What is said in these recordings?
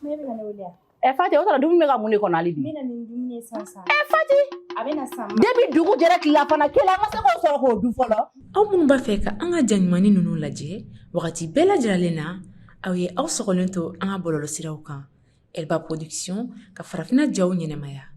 Ne bɛna ne wele yan. Ɛ Fati o tuma dumuni bɛ ka mun de kɔnɔ hali bi? N bɛna ni dumuni ye sisan sisan. Ɛ Fati! A bɛna sisan. Depuis dugu jɛra tilelafana kelen an ma se k'o sɔrɔ k'o dun fɔlɔ. Aw minnu b'a fɛ ka an ka jaɲumanni ninnu lajɛ wagati bɛɛ lajɛlen na, aw ye aw sɔgɔlen to an ka bɔlɔlɔsiraw kan Elba Production ka farafinna jaw ɲɛnamaya.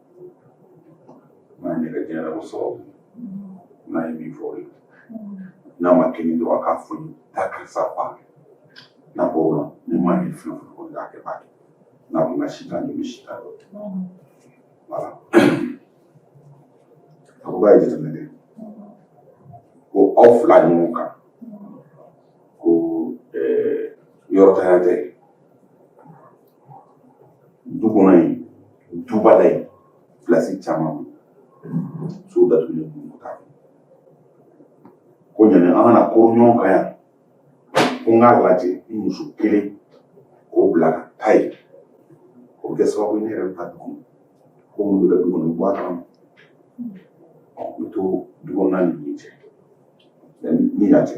n'a ɲɛ ka diɲɛ ko sababu n'a ye min fɔ o ye n'a ma kɛ ni dɔrɔn a k'a fɔ taa karisa fa n'a bɔ o la ni maa ye fɛn o fɛn kɔni k'a kɛ b'a kɛ n'a ko n ka si tan n bɛ si tan dɔ voilà a ko k'a ye jateminɛ kɛ ko aw fila ɲɔgɔn kan ko yɔrɔ tanya tɛ du kɔnɔ yen duba la yen pilasi caman so datugulen kun ta ko yanni an ka na kuru ɲɔgɔn kan yan ko n k'a lajɛ ni muso kelen k'o bila ka taa yen o bɛ kɛ sababu ye ne yɛrɛ bɛ taa du kɔnɔ ko minnu bɛ kɛ du kɔnɔ n bɛ bɔ a kalama n bɛ to du kɔnɔna ni yen cɛ ni yan cɛ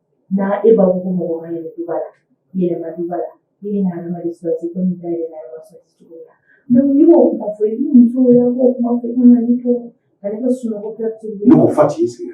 n'a e b'a fɔ ko mɔgɔ ma yɛlɛ duba la yɛlɛma duba la i bɛ na adamaden sɔrɔ se komi da yɛlɛma yɔrɔ sɔrɔ se cogo la n'i b'o kuma fɔ i ni muso y'a b'o kuma fɔ i kana ni to ka ne ka sunɔgɔ kɛ tulu ye. n'o fa t'i sigi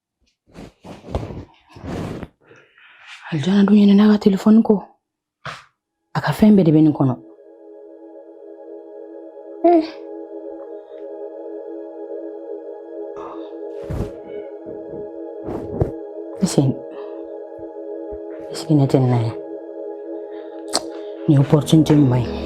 alijana dun ɲinɛna a ka telefɔni kɔ a ka fɛn bɛɛ de bɛ nin kɔnɔ eh. Listen. Listen na tena. Ni opportunité mai.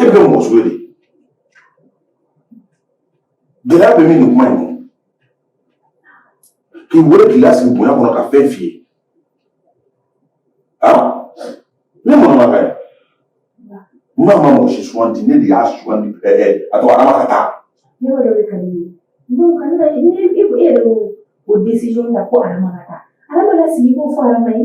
e bɛ kɛ mɔgɔ sugu de gɛlɛya bɛ min nin kuma in kɔnɔ k'i wele k'i lasigi bonya kɔnɔ ka fɛn f'i ye ne mɔnɔ ma kɛ n ma ma mɔgɔ si suganti ne de y'a suganti a to Adama ka taa. ne b'a dɔn de ka di ne ye donc ka ne ka e yɛrɛ y'o décision ta ko Adama ka taa Adama lasigi k'o fɔ Adama ye.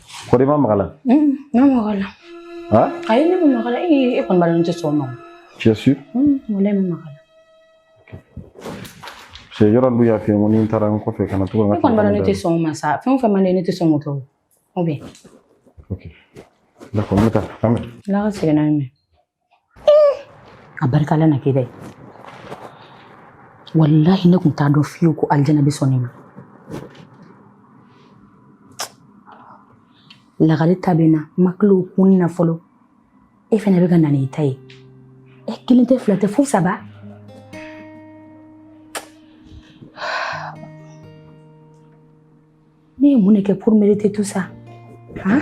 Kɔri i ma maga a la ne maga a la ayi ne ma maga a la e kɔni b'a dɔn n tɛ sɔn o ma tu es sûr walayi n ma maga a la parce que yɔrɔ dun y'a f'i ye ko ni n taara n kɔfɛ kana to ka e kɔni b'a dɔn ne tɛ sɔn o ma sa fɛn o fɛn man di ne tɛ sɔn k'o kɛ ou bien d'accord n bɛ taa an bɛ Ala ka sɛgɛnna mɛn a barika Ala na kɛ dɛ walahi ne tun t'a dɔn fiyewu ko alijana bɛ sɔn ne ma lagare ta bɛ na n ma tila o kun na fɔlɔ e fana bɛ ka na n'i ta ye e kelen tɛ fila tɛ fo saba ne ye mun de kɛ pour mériter tout ça han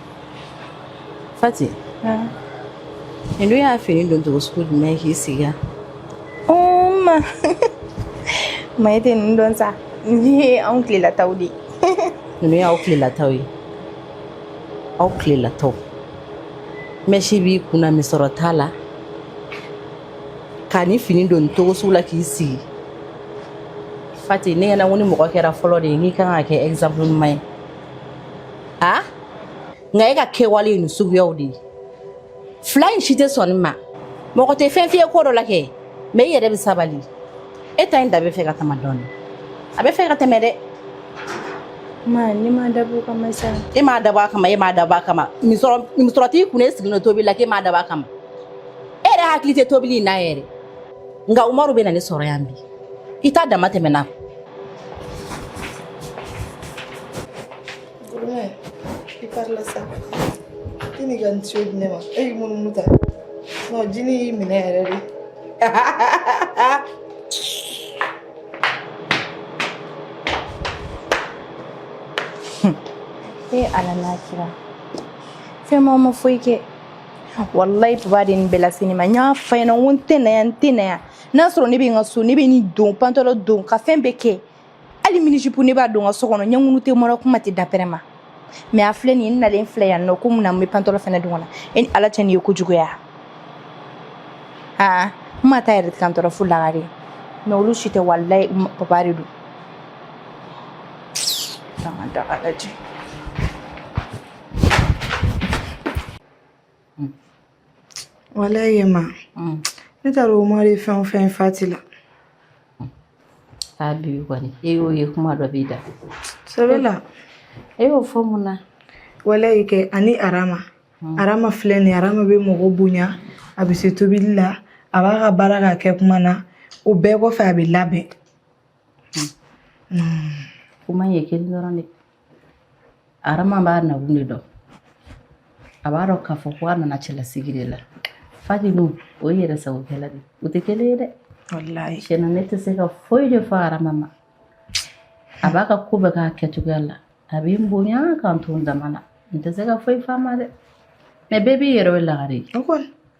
Fati nin dun y'a fini don cogo sugu jumɛn k'i sigi yan ma ma e tɛ ninnu dɔn sa nin ye anw tilelataw de ye ninnu y'aw tilelataw ye aw tilelataw mɛsi b'i kunna misɔrɔ t'a la ka nin fini don cogo sugu la k'i sigi fati ne ɲɛna ko ni mɔgɔ kɛra fɔlɔ den ye i kan ka kɛ exemple ɲuman ye ha nka e ka kɛwale ye nin suguyaw de ye fila in si tɛ sɔn nin ma mɔgɔ tɛ fɛn f'i ye ko dɔ la kɛ mais i yɛrɛ bɛ sabali e ta in dama bɛ fɛ ka tɛmɛ dɔɔnin a bɛ fɛ ka tɛmɛ dɛ Ma, ne m'a dabɔ o kama sa. e m'a dabɔ a kama e m'a dabɔ a kama misɔrɔ t'i kun e sigilen don tobili la k'e m'a dabɔ a kama e yɛrɛ hakili tɛ tobili in na yɛrɛ nka umaru bɛ na ne sɔrɔ yan bi i ta dama tɛmɛna Gurumɛ, i parila sa. I ni ka nin tiyo di ne ma. E y'i munumunu ta. Non, jinɛ y'i minɛ yɛrɛ de. e ala n'a kira fɛ ma n ma foyi kɛ walayi baba de ye nin bɛɛ lase ne ma n y'a f'a ɲɛna ko n tɛ na yan n tɛ na yan n'a sɔrɔ ne bɛ n ka so ne bɛ nin don pantalon don ka fɛn bɛɛ kɛ hali mini-jupe ne b'a don n ka so kɔnɔ ɲɛkun tɛ mara kuma tɛ dapɛrɛn ma mais a filɛ nin n nalen filɛ yan nɔ ko mun na n bɛ pantalon fana don kɔnɔ e ni ala cɛ nin ye ko juguya aa n ma taa yɛrɛ kantɔ fo lagare mais olu si tɛ walayi baba de don walayi ma ne t'a dɔn o ma de fɛn o fɛn fati la a bi kɔni e y'o ye kuma dɔ b'i da sɛbɛ la e y'o fɔ mun na walayi kɛ ani arama arama filɛ nin arama bɛ mɔgɔ bonya a bɛ se tobili la a b'a ka baara k'a kɛ kuma na o bɛɛ kɔfɛ a bɛ labɛn kuma ye kelen dɔrɔn de arama b'a nakun de dɔn a b'a dɔn k'a fɔ ko a nana cɛlasigi de la fati dun o ye yɛrɛ sagokɛla de o tɛ kelen ye dɛ tiɲɛna ne tɛ se ka foyi de fɔ arama ma a b'a ka ko bɛɛ k'a kɛcogoya la a bɛ n bonya ka n to n dama na n tɛ se ka foyi f'a ma dɛ mais bɛɛ b'i yɛrɛ ye lagare ye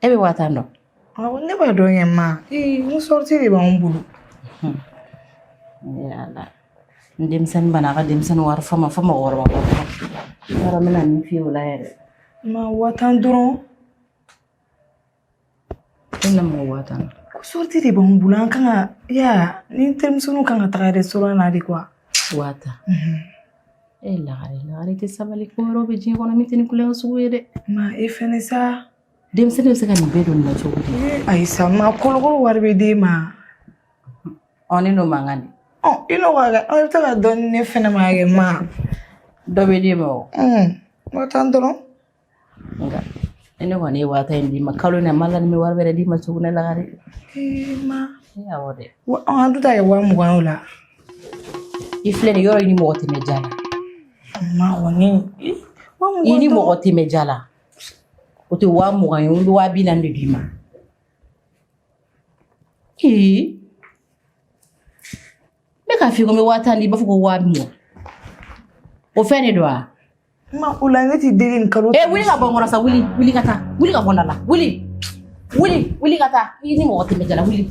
e bɛ waa tan dɔn ne b'a dɔn kɛ ma n sortie de b'an bolo n denmisɛnnin bana a ka denmisɛnnin wari fa ma fɔ mɔgɔkɔrɔba yɔrɔ n bɛna min f'i ye o la yɛrɛ ma waa tan dɔrɔn e na mɔgɔ waa tan sortie de b'an bolo an kan ka ya ni terimuso kan ka taga restaurant na de quoi waa tan E lagare lagare tɛ sabali ko yɔrɔ bɛ diɲɛ kɔnɔ min tɛ ni kulekan sugu ye dɛ. Ma e fɛnɛ sa. Denmisɛnnin bɛ se ka nin bɛɛ don nin na cogo di. Ayi sa ma kalo o kalo wari bɛ d'e ma. Ɔ ne n'o man kan de. Ɔ i n'o ka kɛ aw bɛ taa ka dɔɔni di ne fɛnɛ ma kɛ ma. Dɔ bɛ d'e ma o. Un. Waa tan dɔrɔn. nka ne kɔni ye waa tan in d'i ma kalo in na ma la ni bɛ wari wɛrɛ d'i ma tuguni lagare ma awɔ dɛ an dun t'a kɛ waa mugan o la i filɛ nin yɔrɔ i ni mɔgɔ tɛmɛ ja la ma kɔni i ni mɔgɔ tɛmɛ ja la o tɛ waa mugan ye n bɛ waa bi naani de d'i ma ee ne k'a f'i ye ko n bɛ waa tan di i b'a fɔ ko waa mugan o fɛn de don wa Ma o la ne t'i deli nin kalo. Ee wuli ka bɔ n kɔrɔ sa wuli wuli ka taa wuli ka bɔ n da la wuli wuli wuli ka taa i ni mɔgɔ tɛmɛ ja la wuli.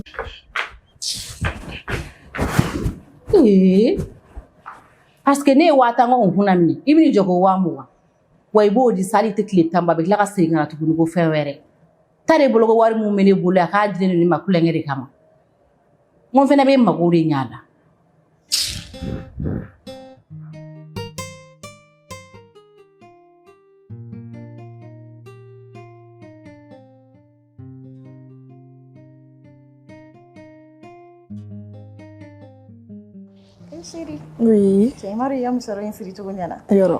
Ee parce que ne ye waa tan ko kunna minɛ i bɛ n'i jɔ ko waa mugan wa i b'o di sa hali a tɛ tile tan bɔ a bɛ tila ka segin ka na tuguni ko fɛn wɛrɛ. Taa de bolo ko wari mun bɛ ne bolo a k'a di ne ma kulonkɛ de kama. n ko fɛnɛ bɛ n mago de ɲa la Chérie. Oui. Cɛ madame i ka musɔrɔ in siri cogo ɲɛna. Yɔrɔ.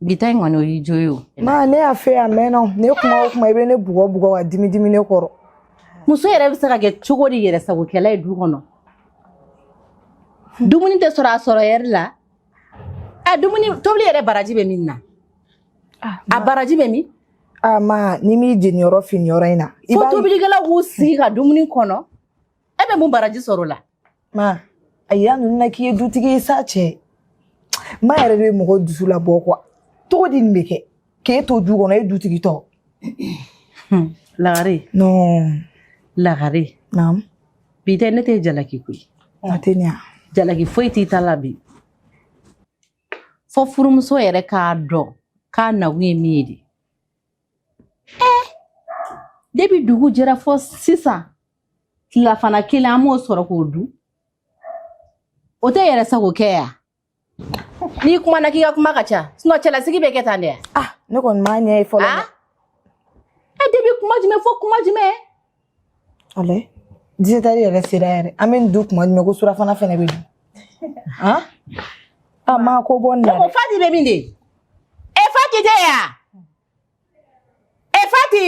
bi ta in kɔni o y'i jo ye o ma ne y'a fɛ a mɛnna o ne kuma o kuma i bɛ ne bugɔ bugɔ ka dimi dimi ne kɔrɔ muso yɛrɛ bɛ se ka kɛ cogo di yɛrɛ sagokɛla ye du kɔnɔ dumuni tɛ sɔrɔ a sɔrɔ heure la a dumuni tobili yɛrɛ baraji bɛ min na a baraji bɛ min a ma n'i m'i jeniyɔrɔ fin yɔrɔ in na fo tobilikɛlaw k'u sigi ka dumuni kɔnɔ e bɛ mun baraji sɔrɔ o la ma a yira ninnu na k'i ye dutigi ye sa cɛ ma yɛrɛ de bɛ mɔgɔ dusu labɔ kuwa cogo di nin bɛ kɛ k'e to du kɔnɔ e dutigi tɔ lagare non lagare naam bi tɛ ne tɛ jalaki koyi a tɛ ɲa jalaki foyi t'i ta la bi fo furumuso yɛrɛ k'a dɔn k'a nakun ye min ye de ɛɛ depi dugu jɛra fo sisan tilafana kelen an m'o sɔrɔ k'o dun o tɛ yɛrɛ sago kɛ ya n'i kumana k'i ka kuma ka ca sinɔn cɛlasigi bɛ kɛ tan dɛ ah ne kɔni m'a ɲɛ ye fɔlɔ dɛ e depi kuma jumɛn fo kuma jumɛn alɛ disɛtɛri yɛrɛ sera yɛrɛ an bɛ nin dun kuma jumɛn ko surafana fɛnɛ bɛ dun ah a ma ko bɔ nin na dɛ fati bɛ min de e fati tɛ yan E Fati!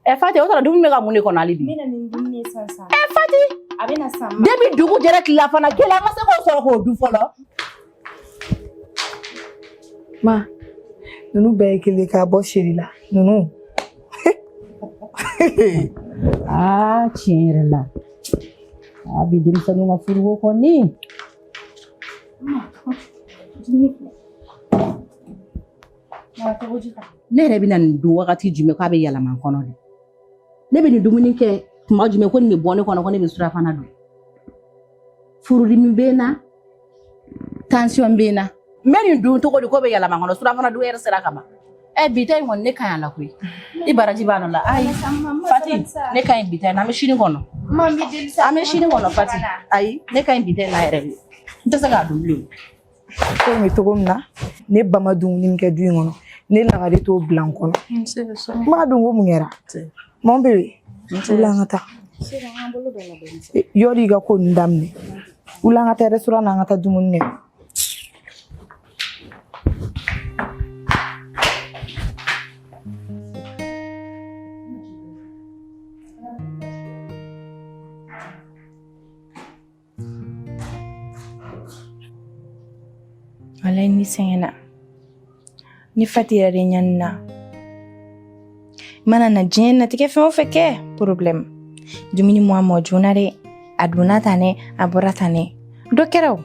E Fati, o sɔrɔ dumuni bɛ ka mun de kɔnɔ hali bi? N bɛ na ni dumuni ye sisan sisan. E Fati! A bɛ na sisan. Depuis dugu jɛra tilelafana kelen an ma se k'o sɔrɔ k'o dun fɔlɔ. Ma, ninnu bɛɛ ye kelen k'a bɔ seri la. Ninnu. Aa tiɲɛ yɛrɛ la. A bi denmisɛnninw ka furuko kɔni. Ne yɛrɛ bɛ na nin dun wagati jumɛn k'a bɛ yɛlɛma n kɔnɔ de? Ne bɛ nin dumuni kɛ tuma jumɛn ko nin bɛ bɔ ne kɔnɔ ko ne bɛ surafana dun? Furudimi bɛ n na. tansiyɔn bɛ n na n bɛ nin dun cogo di k'o bɛ yɛlɛma n kɔnɔ surafana dun yɛrɛ sera ka ban ɛ eh, bi ta in kɔni ne ka ɲi a la koyi i baraji b'a nɔ la ayi fati ne ka ɲi bi ta in na an bɛ sini kɔnɔ an bɛ sini kɔnɔ fati ayi ne ka ɲi bi ta in na yɛrɛ de n tɛ se k'a dun bilen ko in bɛ cogo min na ne ba ma dumuni min kɛ du in kɔnɔ ne lagare t'o bila n kɔnɔ n b'a dun ko mun kɛra Mon bébé wuli an ka taa yɔrɔ i ka ko nin daminɛ wuli an ka taa restaurant an ka taa dumuni kɛ Walahi, ne sɛgɛnna. Ne Fati yɛrɛ de ɲanina. I mana diɲɛnatigɛ fɛn o fɛn kɛ problème. Dumuni mɔ a mɔ joona dɛ. A donna tan dɛ, a bɔra tan dɛ. Dɔ kɛra o.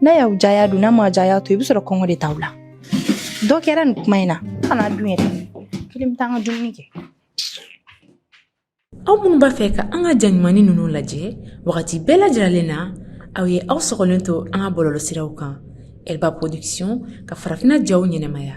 N'a y'aw diya a dun, n'a ma diya a to, i bɛ sɔrɔ kɔngɔ de t'aw la. Dɔ kɛra nin kuma in na, kana dun. N yɛrɛ kelen bɛ taa n ka dumuni kɛ. aw minnu b'a fɛ ka an ka ja ɲumannin ninnu lajɛ wagati bɛɛ lajɛlen na aw ye aw sɔgɔlen to an ka bɔlɔlɔsiraw kan elba production ka farafinna jaw ɲɛnamaya